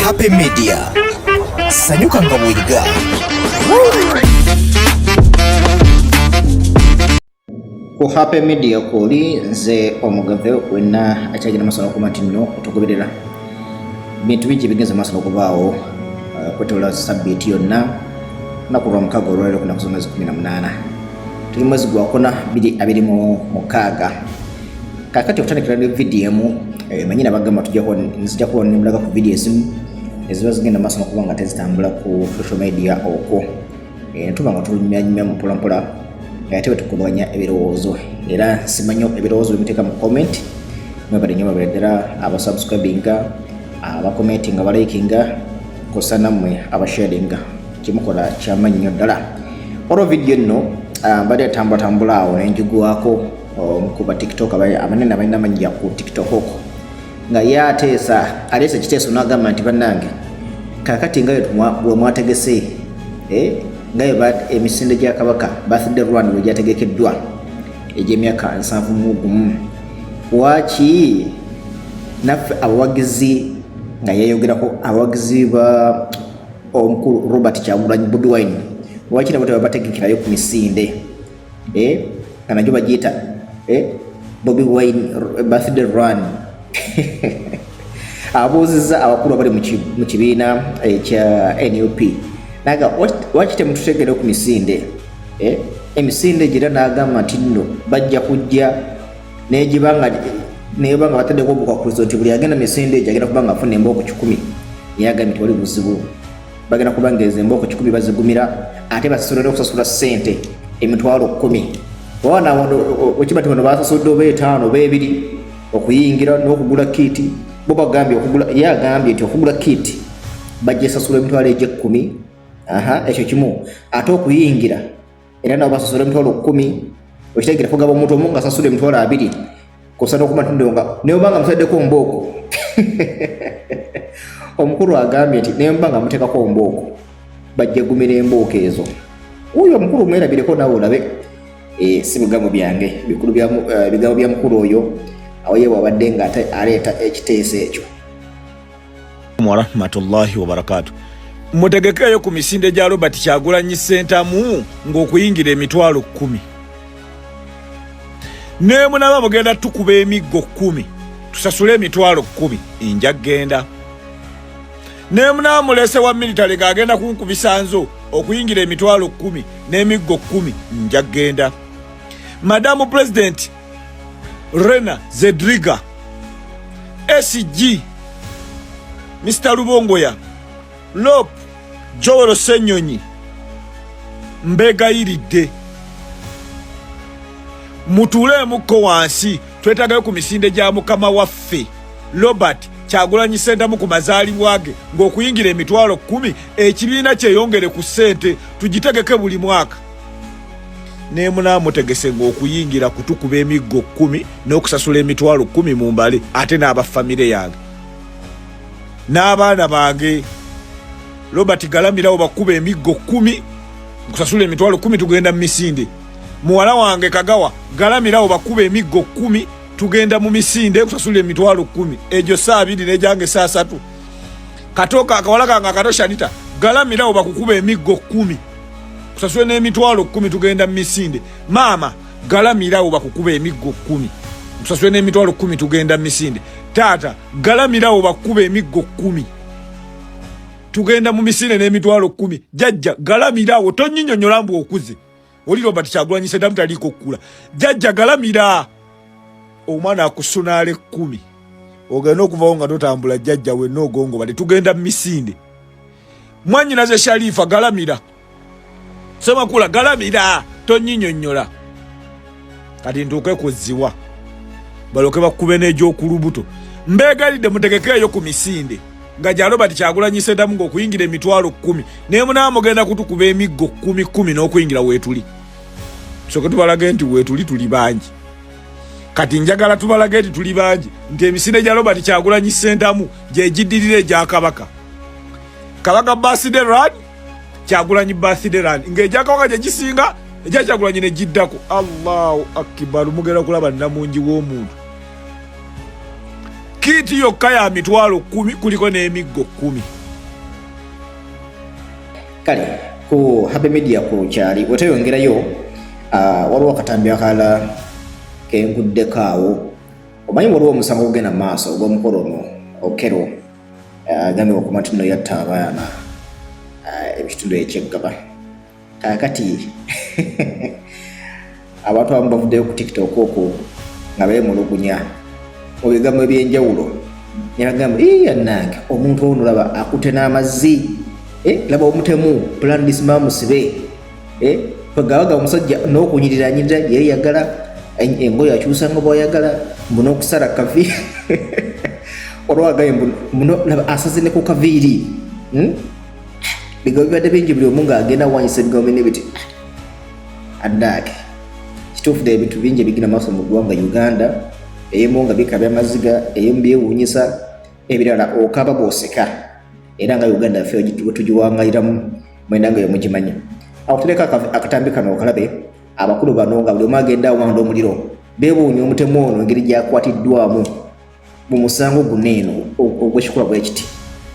Happy Media. Sanyuka nga bw'oyiga. ku happy media kwoli nze omugave wenna akyagenda maaso n'okumatinno otugoberera bintu bingi ebigenze maaso n'okubaawo uh, kwetoola sabbiiti yonna naku lwa mukaaga olwaliro kunaku zomwezi kumi na munaana tuli mwezi gwakuna biri abiri mu mukaaga kakati okutandikira ne vidiyo emu eh, manyi nabagamba tujako nzija kuba nemulaga ku vidiyo ezimu eziba zigenda maaso nokuba nga tezitambula ku social media okwo eh, netuba nga tulunyumyanyumya mu mpolampola eh, ate betukubanya ebirowoozo era simanyo ebirowoozo byemuteeka mu comment mwebale nyo babere ddala abasubscribinga abakomentinga abalikinga kosa nammwe abasharinga kimukola kyamannyi nnyo ddala olwo vidiyo nno ah, mbadde atambulatambula awo nenjigwako omu ku batiktok abanene abalina amannya ku tiktok oko nga ye ateesa aleese ekiteeso n'agamba nti bannange kakati nga we mwategese eh, nga emisinde gya kabaka birthday rwanda we gyategekeddwa egy'emyaka nsanvu mu gumu waaki naffe abawagizi nga yeyogerako abawagizi ba omukulu robert kyagulanyi bobi wine waaki nabo tebabategekerayo ku misinde eh, kanajo bajiyita eh, Bobi Wine eh, birthday run abuuzizza abakulu abali mu kibiina ekya eh, nup naga waki temututegere ku misinde eh, emisinde gira nagamba nti nno bajja kujja negibanga neba nga bataddeko obukwakkulizo nti buli agenda misinde egyo agenda kuba nga afuna embooko kikumi yagambye tewali buzibu bagenda kubangeeza embooko kikumi bazigumira ate basasula n'okusasula ssente emitwalo kkumi owana okiba ti bano basasudde oba etaano oba ebiri okuyingira n'okugula kiiti bo bagambye okugula ye agambye nti okugula kiiti bajja esasula emitwalo egy'ekkumi aha ekyo kimu ate okuyingira era nabo basasula emitwalo kkumi okitegeera kugaba omuntu omu nga asasula emitwalo abiri kosana okumatundiro nga naye oba nga mutaddeko mbooko omukulu agambye nti naye mba nga muteekako mbooko bajja gumira embooko ezo uyo omukulu mwerabireko nawe olabe eh, si bigambo byange eh, bigambo bya mukulu oyo awo ye bwabadde nga aleeta ekiteeso ekyo warahmatullahi wabarakatu mutegekeeyo ku misinde gya robert kyagulanyi sentamu ng'okuyingira emitwalo kkumi nemunaba mugenda tukuba emiggo kkumi tusasule emitwalo kkumi enja genda nemunaba mulese wa militale ng'agenda kunkubisa nzo okuyingira emitwalo kkumi n'emiggo kkumi nja genda madamu pulezidenti rena zedriga sg mr lubongoya lop jowero senyonyi mbegayiridde mutuuleemukko wansi twetagayo ku misinde gya mukama waffe robert kyagulanyi sentamu ku mazaalibwa ge ng'okuyingira emitwalo kkumi ekibiina kyeyongere ku ssente tugitegeke buli mwaka nemunaa mutegese ngaokuyingira kutukuba emiggo kumi n'okusasula emitwalo kumi mu mbale ate n'abafamire yange n'abaana bange robert galamirawo bakuba emiggo kumi nkusasula emitwalo kumi tugenda mu misinde muwala wange kagawa galamirawo bakuba emiggo kumi tugenda mu misinde nkusasula emitwalo kumi egyo saa abiri negyange saa satu katoka akawala kange akato shanita galamirawo bakukuba emiggo kumi kusasula n'emitwalo kkumi tugenda mu misinde maama galamirawo bakukuba emiggo kkumi kusasula n'emitwalo kkumi tugenda mu misinde taata galamirawo bakukuba emiggo kkumi tugenda mu misinde n'emitwalo kkumi jajja galamirawo tonyinyonyola mbu okuze oli robert kyagulanyi sedamu taliiko okukula jajja galamira omwana akusunaala ekkumi ogenda okuvawo nga totambula jajja wenna ogongobade tugenda mu misinde mwanyinaze sharifa galamira semakula galamira tonyinyonyola kati ntuuke kuziwa baloke bakube n'egyokulubuto mbeegalidde mutegekeeyo ku misinde nga gya robert kyagulanyi sedamu ng'okuyingira emitwalo kkumi naye munaa mugenda kutukuba emiggo kkumi kkumi n'okuyingira weetuli soke tubalage nti weetuli tuli bangi kati njagala tubalage nti tuli bangi nti emisinde gya robert kyagulanyi sentamu gyegiddirira egya kabaka kabaka birthday run kyagulanyi birthday run ng'egya kabaka gye gisinga egya kyagulanyi ne giddako allahu akibaru mugenda kulaba namungi w'omuntu kiiti yokka ya mitwalo kumi kuliko n'emiggo kumi kale ku Happy Media ku kyali weteyongerayo uh, waliwo akatambi akalala kenkuddeko awo omanyi waliwo omusango ogugenda mu maaso ogw'omukolo ono okero uh, agambibwa ku matino yatta abaana uh, ekitundu ekyeggaba kakati Abantu abamu bavuddeyo ku TikTok okwo nga beemulugunya mu bigambo eby'enjawulo ne bagamba ii yannange omuntu ono laba akute n'amazzi eh, laba omutemu plan this man musibe eh, bagabaga omusajja n'okunyirira nyirira yali yagala engoye akyusanga bwayagala mbuna okusala kavi olwagaye muno laba asaze ne ku kaviiri hmm? bigambo bibadde bingi buli omu ng'agenda wanyisa ebigambo binne biti addaaki kituufu ddala ebintu bingi ebigina maaso mu ggwanga uganda ebimu nga bikabya amaziga ebimu byewuunyisa ebirala okaba bwoseka era nga uganda yaffe wetugiwangaliramu mwena nga yomugimanya awo tuleka akatambi kano okalabe abakulu bano nga buli omu agenda awanda omuliro bewuunya omutemu ono engeri gyakwatiddwamu mu musango guno eno ogwekikola bwe kiti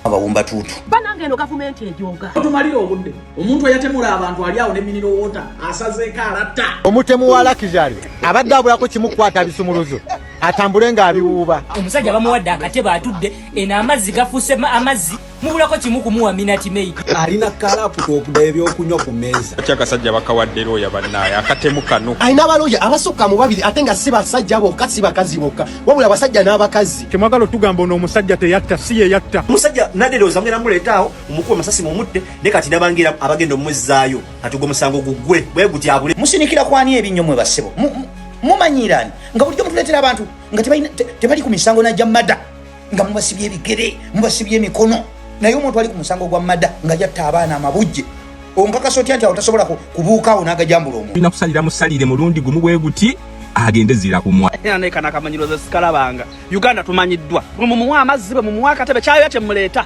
abawumba tuutu banange eno gavumenti ejoga otumalira obudde omuntu eyatemula abantu ali awo ne miniro wota asazeeko alatta omutemu wa lakizari abadde abulako kimukwata bisumuluzo atambule ng'abiwuuba omusajja bamuwadde akatebe atudde eno amazzi gafuuse amazzi mubulako kimu kumuwa minati maid alina kalaputa okuda ebyokunywa ku meeza ati agasajja bakawadde looya bannaaye akatemu kano alina abalooya abasukka mu babiri ate nga si basajja bokka si bakazi bokka wabula abasajja n'abakazi temwagala otugamba ono omusajja teyatta si ye yatta musajja naderooza mugenda muleetaawo omukuba masasi mumutte ne kati nabangira abagenda omuzzaayo kati ogwo musango gugwe bwe gutyabule musinikira kwani ebinnyo mwe bassebo mumanyiirani nga bulijjo mutuleetera abantu nga tebali ku misango najja mada nga mubasibye ebigere mubasibye emikono naye omuntu ali ku musango gwa mada nga yatta abaana amabujje onkakasa otya nti awo tasobola kubuukaawo n'agajambula omu olina kusalira musalire mulundi gumu bwe guti agende zira kumwa naye kanakamanyiroza sikalabanga uganda tumanyiddwa mumuwa amazzi bwe mumuwa akatebe kyayoya kyemuleeta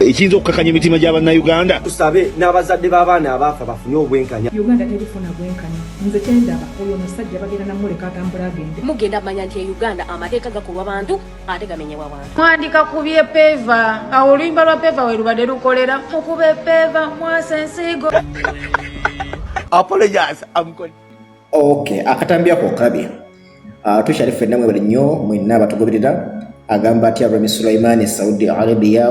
ekiyinza okukakanya emitima gya bannayuganda tusabe n'abazadde b'abaana abaafa bafune obwenkanya uganda terifuna bwenkanya nze kyendaba oyo omusajja bagenda namuleka atambula agende mugenda manya nti e uganda amateeka gakolwa bantu ate gamenyebwa bantu mwandika ku bye peeva awo oluyimba lwa peeva we lubadde lukolera mukube peeva mwasa ensiigo apologize amkol okay akatambi ako okabye Ah, tukyali ffenna mwebale nnyo mwenna abatugoberera agamba atya remi sulaiman e saudi arabia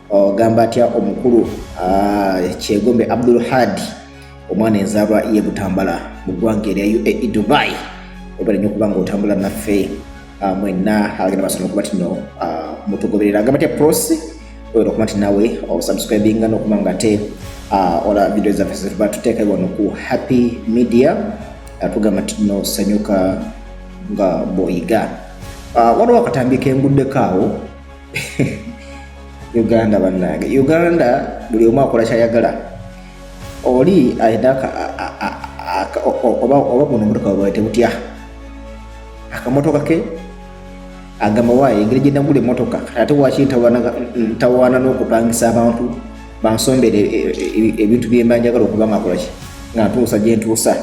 ogamba oh, atya omukulu ah, kyegombe abdul had omwana enzaalwa ye butambala mu ggwanga erya uae dubai webale nnyo okuba nga otambula naffe ah, mwenna agenda basana okuba tino mutugoberera agamba atya prosi oyera okuba nti nawe osubscribinga nokuba nga te uh, ola video zaffe zetuba tuteeka wano ku happy media uh, tugamba nti no sanyuka nga boyiga uh, waliwo akatambi kenguddeko awo uganda bannange uganda buli omu akola kyayagala oli ayina oba buno omutoka bwawe tebutya akamotoka ke agamba waayo engeri gye nagula emmotoka ate waki ntawaana n'okupangisa abantu bansombere e, e, e, ebintu byemba njagala okuba nga kolaki nga ntuusa gye ntuusa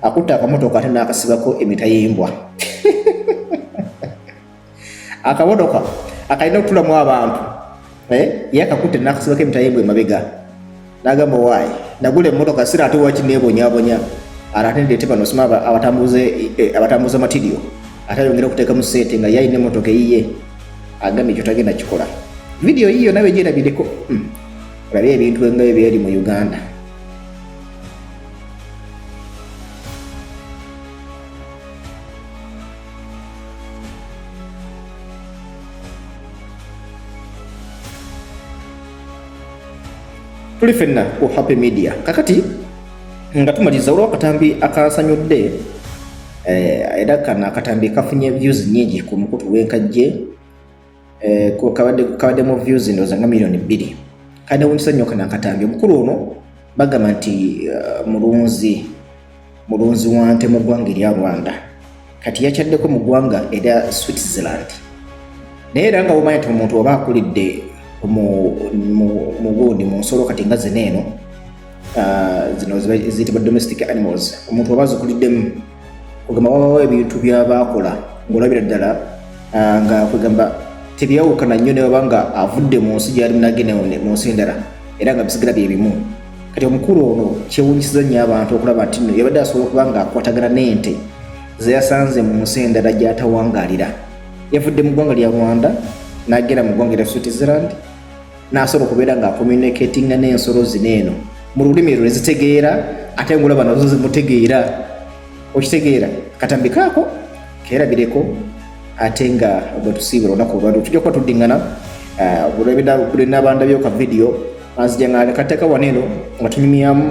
akutte akamotoka ate n'akasibako emita y'embwa akamotoka akalina okutulamu abantu eh yakakutte nakasibako emitayimbwa emabega nagamba waayi nagula emmotoka sira ate waki nebonyabonya ate ndeete bano sima abatambuze eh, abatambuza matirio ate ayongera okuteekamu sente nga yalina emmotoka eyiye agambye ekyo tagenda kikola vidiyo yiyo nawe gyerabireko hmm. olabe ebintu nga ebyeri mu uganda tuli fenna ku Happy Media kakati nga tumaliza olwa katambi akasanyudde eh, era kana akatambi kafunye views nyingi ku mukutu w'enkajje eh, kabadde mu views ndowooza nga miliyoni bbiri kade wunsa nnyo kana akatambi omukulu ono bagamba nti eh, mulunzi mulunzi wa nte mu ggwanga erya rwanda kati yakyaddeko mu ggwanga erya switzerland naye era nga womanya ti omuntu oba akulidde mu gundi mu nsolo kati nga zina eno ah, zino ziyitibwa domestic animals omuntu oba zikuliddemu kugamba wabawo ebintu byabaakola ngaolabira ddala ah, nga kwegamba tebyawukana nnyo newaba nga avudde mu nsi gyali munagenda mu nsi endala era nga bisigala bye bimu kati omukulu ono kyewunyisiza nnyo abantu okulaba nti no yabadde asobola okuba nga akwatagana n'ente zeyasanze mu nsi endala gyatawangalira yavudde mu ggwanga lya rwanda nagenda mu ggwanga erya switzerland n'asobola okubeera nga akomunikatinga n'ensolo zino eno mu lulimi lwe zitegeera ate ngolaba nazo zimutegeera okitegeera katambikaako keerabireko ate nga bwetusiibula olunaku olwali tujja kuba tuddingana uh, olwebinabandabyoka vidiyo anzija nga kateka waneno nga tunyumyamu